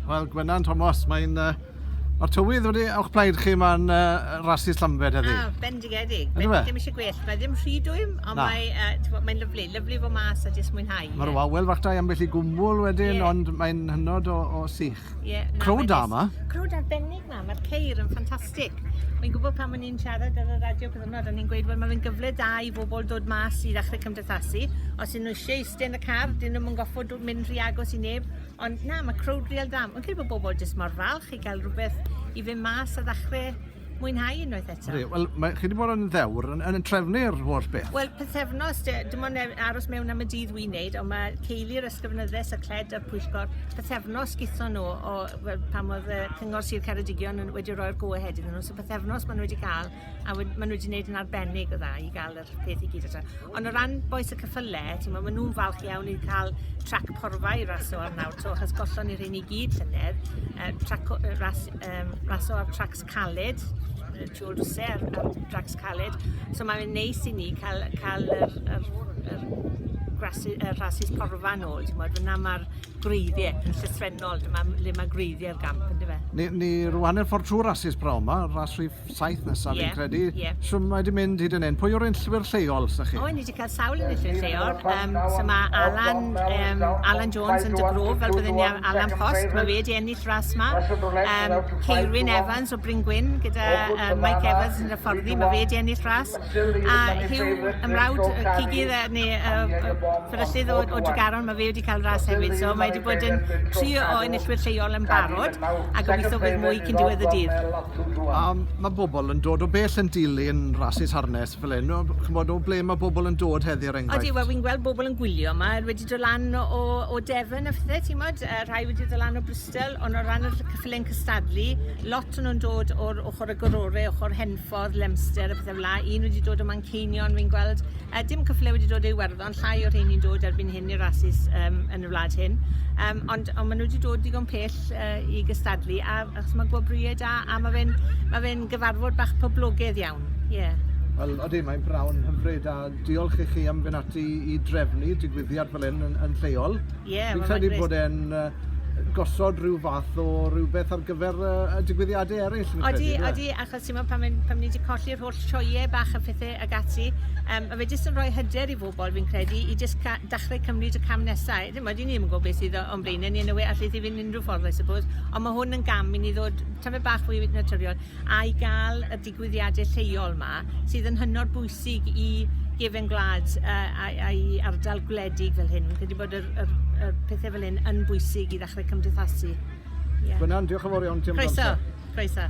Wel, Gwenan, Tomos, mae'n... Uh, Mae'r tywydd wedi o'ch plaid chi mae'n uh, rasu Llambed heddi. Ah, bendigedig. Ydy fe? Ddim eisiau gwell. Mae ddim rhy dwym, ond Na. mae, uh, mae'n lyflu. Lyflu fo mas a jyst mwynhau. Mae'r yeah. wawel fach da i ambell i gwmwl wedyn, yeah. ond mae'n hynod o, o sych. Yeah, na, Crowd da yma. Crowd arbennig na, mae'r ceir yn ffantastig. Mae'n gwybod pan o'n i'n siarad ar y radio cyfnod, o'n i'n gweud, wel, mae'n gyfle da i bobl dod mas i ddechrau cymdeithasu. Os ydyn nhw eisiau eistedd yn y car, dyn nhw'n goffod mynd rhy agos i neb, ond na, mae crowd real da. Mae'n credu bod bobl jyst mor falch i gael rhywbeth i fynd mas a ddechrau mwynhau unwaith eto. Wel, mae chi wedi bod yn ddewr yn, yn trefnu'r holl beth. Wel, pethefnos, dim ond e- aros mewn am y dydd wy'n neud, ond mae ceili'r ysgrifenyddes y cled a'r pwyllgor pethefnos gytho nhw o, pan oedd y Cyngor Sir Ceredigion wedi rhoi'r go-ahead iddyn nhw, so pethefnos maen nhw wedi cael a we- ma' nw 'di neud yn arbennig o dda i ga'l yr peth i gyd eto. Ond o ran bois y cyffyle t'mo' ma' nw'n falch iawn i ca'l trac porfa i raso ar nawr 'to achos gollon ni rhein i gyd llynedd yy trac o- yy ras yym raso ar tracs caled yy Tour de Ser ar dracs caled so ma' fe'n neis i ni ca'l ca'l yr yr yr grasu- yy rhasys porfa nôl t'mod fyn 'na ma'r gwreiddie yn llythrennol dyma m- le ma' gwreiddie'r gamp yndyfe? Ni ni rŵan yn ffordd trw'r rasys p'nawn 'ma, ras rhif saith nesaf yeah. fi'n credu. Yeah. So mae wedi mynd hyd yn hyn. Pwy o'r enllwyr lleol sy'ch chi? O, ni wedi cael sawl yn enllwyr lleol. Um, so mae Alan, um, Alan Jones yn dygrwf, fel byddwn ni Alan Post, mae fe wedi ennill ras yma. Um, Ceirwyn Evans o Bryngwyn gyda um, Mike Evans yn y fforddi, mae fe wedi ennill ras. A Hugh, ymrawd y cigydd neu uh, fferyllydd o, o Dugaron, mae fe wedi cael ras hefyd. So mae wedi bod yn tri o enillwyr lleol yn barod a gobeithio bydd mwy cyn diwedd y dydd. A ma' bobol yn dod o bell yn dilyn rasys harness fel 'yn o b- ch'mod o ble ma' bobol yn dod heddi er enghraifft? Odi wel fi'n gweld bobol yn gwylio 'ma yy wedi do' lan o o Devon a phthe t'mod yy rhai wedi do' lan o Bristol on' o ran y ll- cyffyle yn cystadlu lot o nw'n dod o'r ochor agorore ochor Henffordd Lemster a pethe fel 'a un wedi dod o Manceinion fi'n gweld yy dim cyffyle wedi dod o Iwerddon Mae llai o rheini'n dod erbyn hyn i'r rasus um, yn y wlad hyn, um, ond, ond maen nhw wedi dod digon pell uh, i gystadlu, a, achos mae gwobrwyau da, a mae fe'n ma fe gyfarfod bach poblogaidd iawn. Yeah. Wel, oeddi, mae'n brawn hyfryd a diolch i chi am fynd ati i drefnu digwyddiad fel hyn yn, yn lleol. Ie, yeah, Fi'n credu bod e'n uh, gosod rhyw fath o rhywbeth ar gyfer uh, y digwyddiadau eraill. Oeddi, oeddi, achos ti'n pan, pan ni wedi colli'r holl sioeau bach a phethau ag ati yym ma' fe jyst yn rhoi hyder i bobl fi'n credu i jyst ca- dachre cymryd y cam nesa i ddim mod i ddim yn gwybod beth sydd o- o'n blaenau ni yn y we allith i fynd unrhyw ffordd I suppose ond ma' hwn yn gam i ni ddod tamed bach fwy naturiol a i gael y digwyddiadau lleol ma sydd yn hynod bwysig i gefen gwlad uh, a'i, a'i ardal gwledig fel hyn. Fi'n credu bod y, y, y pethau fel hyn yn bwysig i ddechrau cymdeithasu. Yeah. Gwyna'n diolch yn fawr iawn ti am Croeso, croeso.